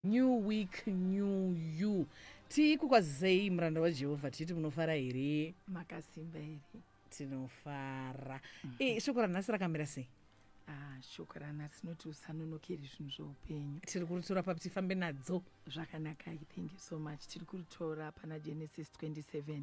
new week new you tii kukwazisei muranda wajehovha tichiti munofara here makasimba here tinofara mm -hmm. e, shoko ranhasi rakamira sei Ah, shoko ranhasi rinoti usanonokeri zvinhu zveupenyu tiri kuritora papi tifambe nadzo zvakanakai thank you so much tiri kuritora pana genesis 27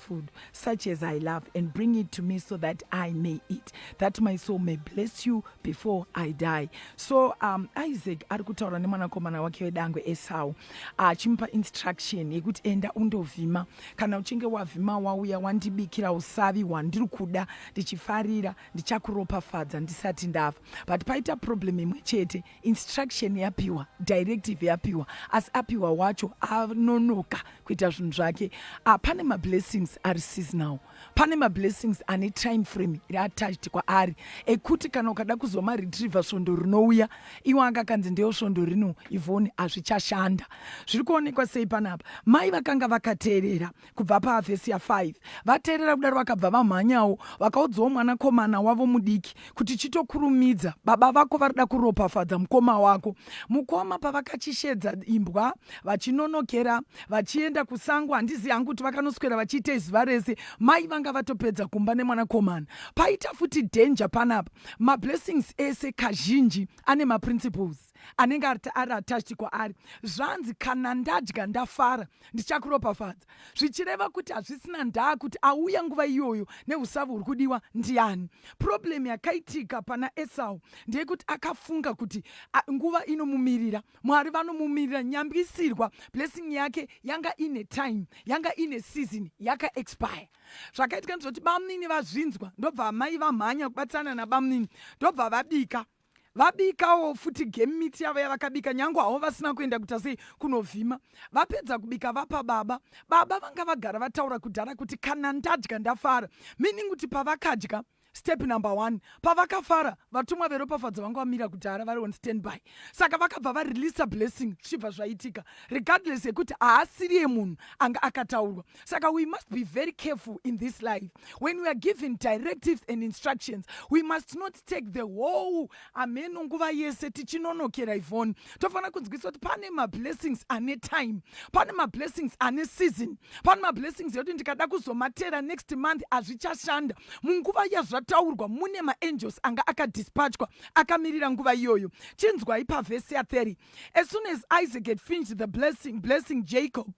food such as I love and bring it to me so that I may eat, that my soul may bless you before I die. So um, Isaac ari kutaura nemwanakomana wake wedangwe Esau achimupa uh, instruction yekuti enda undovhima, kana uchinge wavhima wauya wandibikira usavi hwandiri kuda ndichifarira, ndichakuropafadza ndisati ndafa. But paita problem imwe chete instruction yapiwa directive yapiwa asi apiwa wacho anonoka kuita zvinhu zvake ah, pane mablessings ari seasonal pane mablessings ane time frame iri attached kwaari ekuti kana ukada kuzoma retriever svondo rinouya iwo anga akanzi ndeyo svondo rino ivoni hazvichashanda zviri kuonekwa sei panapa mai vakanga vakateerera kubva pavhesi ya5 vateerera kudaro vakabva vamhanyawo vakaudzawo mwanakomana wavo mudiki kuti chitokurumidza baba vako varida kuropafadza mukoma wako mukoma pavakachishedza imbwa vachinonokera vachienda kusango handizi hangu kuti vakanoswera vachiita izuva rese mai vanga vatopedza kumba nemwanakomana paita futi danger panapa mablessings ese kazhinji ane maprinciples anenge ari attached kwaari zvanzi kana ndadya ndafara ndichakuropafadza zvichireva kuti hazvisina ndaa kuti auya nguva iyoyo neusavi huri kudiwa ndiani problem yakaitika pana esau ndeyekuti akafunga kuti nguva inomumirira mwari vanomumirira nyambisirwa blessing yake yanga ine time yanga ine season yakaexpire zvakaitika ndizvoti bamunini vazvinzwa ndobva amai vamhanya kubatsirana nabamunini ndobva vabika vabikawo futi game meat yavo yavakabika nyange havo vasina kuenda kuita sei kunovhima vapedza kubika vapa baba baba vanga vagara vataura kudhara kuti kana ndadya ndafara meaning kuti pavakadya step number one pavakafara vatumwa veropafadzo vanga vamira kudhara vari on standby saka vakabva vareleasa blessing zvichibva zvaitika regardless yekuti haasiriye munhu anga akataurwa saka we must be very careful in this life when we are given directives and instructions we must not take the whole ameno nguva yese tichinonokera ivhoni tofanira kunzwisa kuti pane mablessings ane time pane mablessings ane season pane mablessings yekuti ndikada kuzomatera next month hazvichashanda munguva yazvataurwa mune maangels anga akadispatchwa akamirira nguva iyoyo chinzwai pavhesi ya 30 as soon as isaac had finished the blessing blessing jacob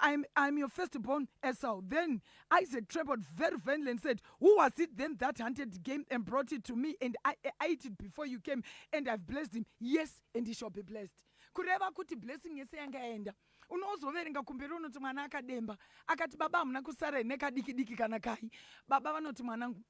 I'm, I'm your firstborn Esau. Then Isaac trembled very violently and said, Who was it then that hunted the game and brought it to me? And I, I ate it before you came, and I've blessed him. Yes, and he shall be blessed. kureva kuti blessing yese yanga yaenda unozoverenga kumberi unoti mwana akademba akati baba hamuna kusara nekadiki diki kana kai baba vanoti mwanangu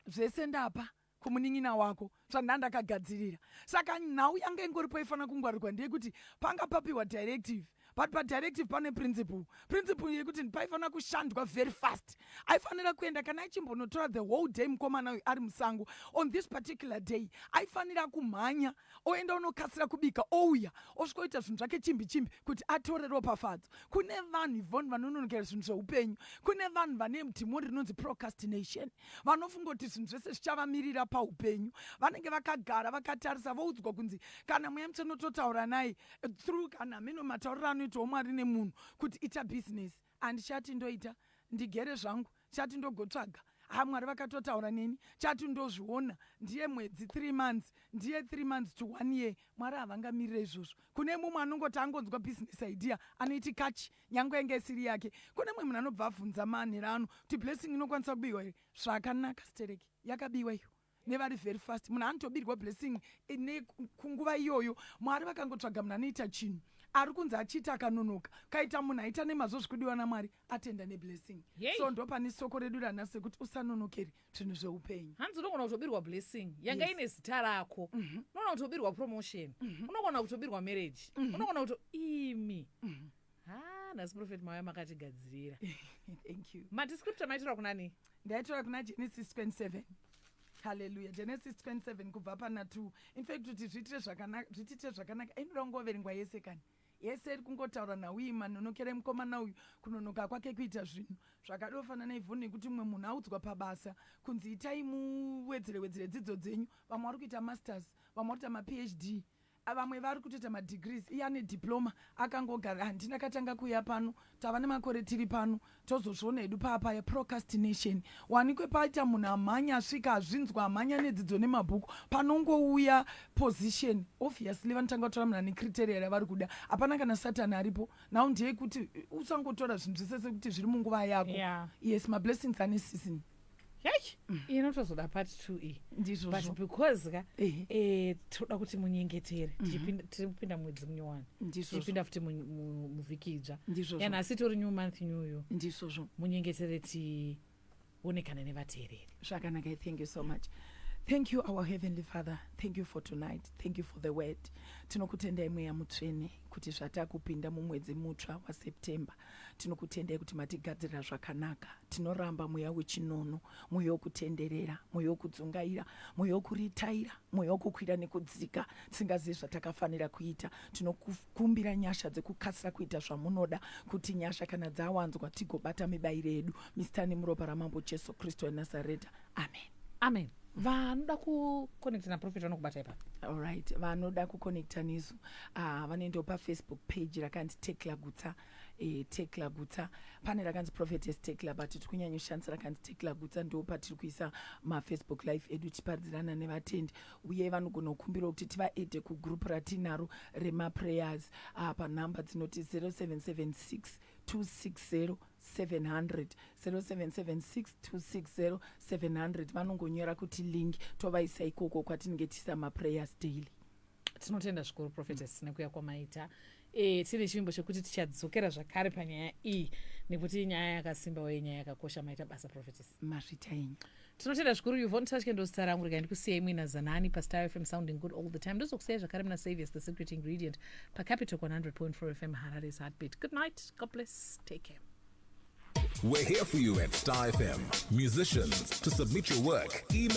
zvese ndapa kumunin'ina wako zvandandakagadzirira saka nhau yanga ingoripo ifanira kungwarirwa ndeyekuti panga papiwa directive but padirective pane principle principle yekuti paifanira kushandwa very fast aifanira kuenda kana achimbonotora the whole day mukomana uyu ari musango on this particular day aifanira kumhanya oenda unokasira kubika ouya osvikoita zvinhu zvake chimbi chimbi kuti atore ropafadzo kune vanhu ivon vanononokera zvinhu zveupenyu kune vanhu vane dhimo rinonzi procastination vanofunga kuti zvinhu zvese zvichavamirira paupenyu vanenge vakagara vakatarisa voudzwa kunzi kana mweya mutsvene totaura nai through kana hameno matauriro anoitawo mwari nemunhu kuti ita bhizinesi Handichati ndoita ndigere zvangu chati ndogotsvaga ha mwari vakatotaura neni chati ndozviona ndiye mwedzi three months ndiye three months to one year mwari havangamirire izvozvo kune mumwe anongoti angonzwa business idea anoiti kachi nyange yanga isiri yake kune mumwe munhu anobva avhunza manhera ano kuti blessing inokwanisa kubiwa here zvakanaka stereki yakabiwa iyo nevari very fast munhu anotobirwa blessing ine kunguva iyoyo mwari vakangotsvaga munhu anoita chinhu ari kunzi achiita akanonoka kaita munhu aita nemazvo zvikudiwa namwari atenda neblessing so ndo pane soko redu rana sekuti usanonokeri zvinhu zveupenyu hanzi unogona kutobirwa blessing yanga yes. ine zita rako mm -hmm. unogona kutobirwa promotion mm -hmm. unogona kutobirwa marriage mm -hmm. unogona kuto imi mm -hmm ha nhasi prophet mauya makatigadzirira thank you mati scripture maitirwa kunani ndaitora kuna genesis 27 haleluya genesis 27 kubva pana 2 infact kuti zviitire zvakanaka zvitiitire zvakanaka inoda kungoverengwa yese kani yese iri kungotaura nhau iyi manonokera emukomana uyu kunonoka kwake kuita zvinhu zvakadofanana naivhoni nekuti mumwe munhu audzwa pabasa kunzi itai muwedzere wedzere dzidzo dzenyu vamwe vari kuita masters vamwe vari kuita maphd vamwe vari kutoita madegrees iye ane diploma akangogara handina katanga kuuya pano tava nemakore tiri pano tozozviona hedu paapaya procrastination wanikwe paita munhu amhanya asvika azvinzwa amhanya nedzidzo nemabhuku panongouya position obviously vanotanga kutora munhu ane criteria ravari kuda hapana kana satani aripo nhau ndeyekuti usangotora zvinhu zvese sekuti zviri munguva yako yeah. yes mablessings ane season Eish, inotozoda part two iyi but ndizvozvo because ka Ehe. eh, tinoda kuti munyengetere Tichipinda- tiri kupinda mwedzi munyowani ndizvozvo tichipinda futi mu- mu- muvhiki idzva ndizvozvo yana asi tori new month new yo ndizvozvo munyengetere tionekane nevateereri zvakanaka i thank you so much thank you our heavenly father thank you for tonight thank you for the word tinokutendai mweya mutsvene kuti zvatakupinda mumwedzi mutsva waseptember Tinokutendai kuti matigadzirira zvakanaka. Tinoramba mweya wechinono, mweya wokutenderera, mweya wokudzungaira, mweya wokuritaira, mweya wokukwira nekudzika, tisingazivi zvatakafanira kuita. Tinokumbira nyasha dzekukasira kuita zvamunoda, kuti nyasha kana dzawanzwa tigobata mibairo yedu. Misitani muropa raMambo Jesu Kristu weNazareta. amen amen vanoda kuconnecta naprofet vanokubata ipapo allright vanoda kuconnecta nesu uh, vanoendawo pafacebook page rakanzi tekla gutsa e, tekla gutsa pane rakanzi prophetess tekla but tiri kunyanyoshandisa rakanzi tekla gutsa ndo patiri kuisa mafacebook life edu tichiparidzirana nevatendi uye vanogona kukumbirawo kuti tivaede kugroup ratinaro remaprayers uh, panhamba dzinoti 0776 260 700 0776 260 700 vanongonyora kuti link tovaisa ikoko kwatinenge tiisa maprayers daily tinotenda zvikuru prophetess mm. nekuya kwamaita e, tine chivimbo chekuti tichadzokera zvakare panyaya iyi nekuti inyaya yakasimba uye nyaya yakakosha maita basa prophetess mazvita enyu tinotenda zvikuru yuvon tashke ndozita rangu rega ndikusiyai muina zanani pastar fm sounding good all the time ndozokusiyai zvakare muna saviors the secret ingredient pacapital 100.4 fm harare's heartbeat good night god bless take care We're here for you at Star FM. Musicians, to submit your work, email.